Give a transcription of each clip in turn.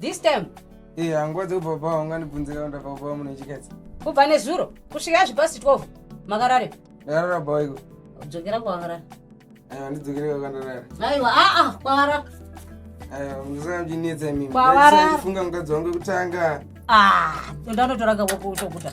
this time eh hanguva dzekubva baba ungandibvunze kana ndabva baba muno chikadzi kubva nezuro kusvika zvipasi 12 makarare ndakarara baba iko dzokera kwakarara aiwa ndidzokere kwakandarara aiwa aa ah, kwakarara aiwa musakamchinetsa imimi kwakarara funga mukadzi wangu kutanga ah ndanotoranga kwakutokuta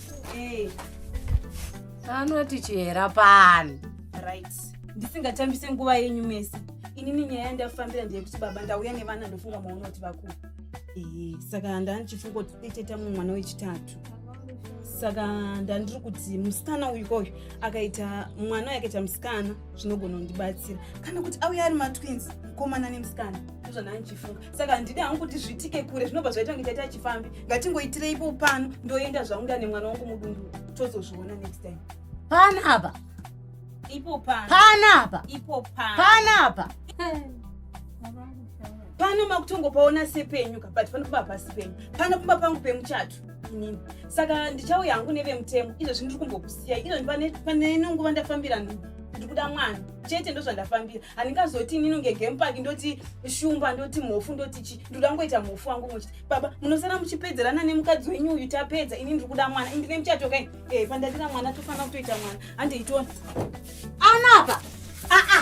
Hey. Eh. Anoti chihera pani. Right. Ndisingachambise nguva yenyu mese. Inini nyaya yandafambira ndeyekuti baba ndauya nevana ndofunga maona kuti vakuru. Eh, saka ndandichifunga kuti deteta mumwe mwana wechitatu. Saka ndandiri kuti musikana uyu koyu akaita mwana yakaita musikana zvinogona kundibatsira. Kana kuti auya ari matwins mukomana nemusikana. Ndozvandandichifunga. saka handidi hangu kuti zviitike kure zvinobva zvaita kunge taita chifambi ngatingoitireipo pano ndoenda zvangu nda nemwana wangu mudundu tozozviona next time pana apa ipo pana pana apa ipo pana pana apa pano makutongopaona sepenyu ka but panopamba pasi penyu panopamba pangu pemuchato inini saka ndichauya hangu nevemutemo izvozvi ndiri kumbokusiyai izvozvi pane nenguva ndafambira nhu ndiri kuda mwana chete ndozvandafambira handingazoti inini kunge game park ndoti shumba ndoti mhofu ndoti chi ndoda ngoita mhofu wangu muchiti baba munosara muchipedzerana nemukadzi wenyu uyu tapedza ini ndiri kuda mwana indine muchato kai e pandadira mwana tofanira kutoita mwana handiitona anapa aa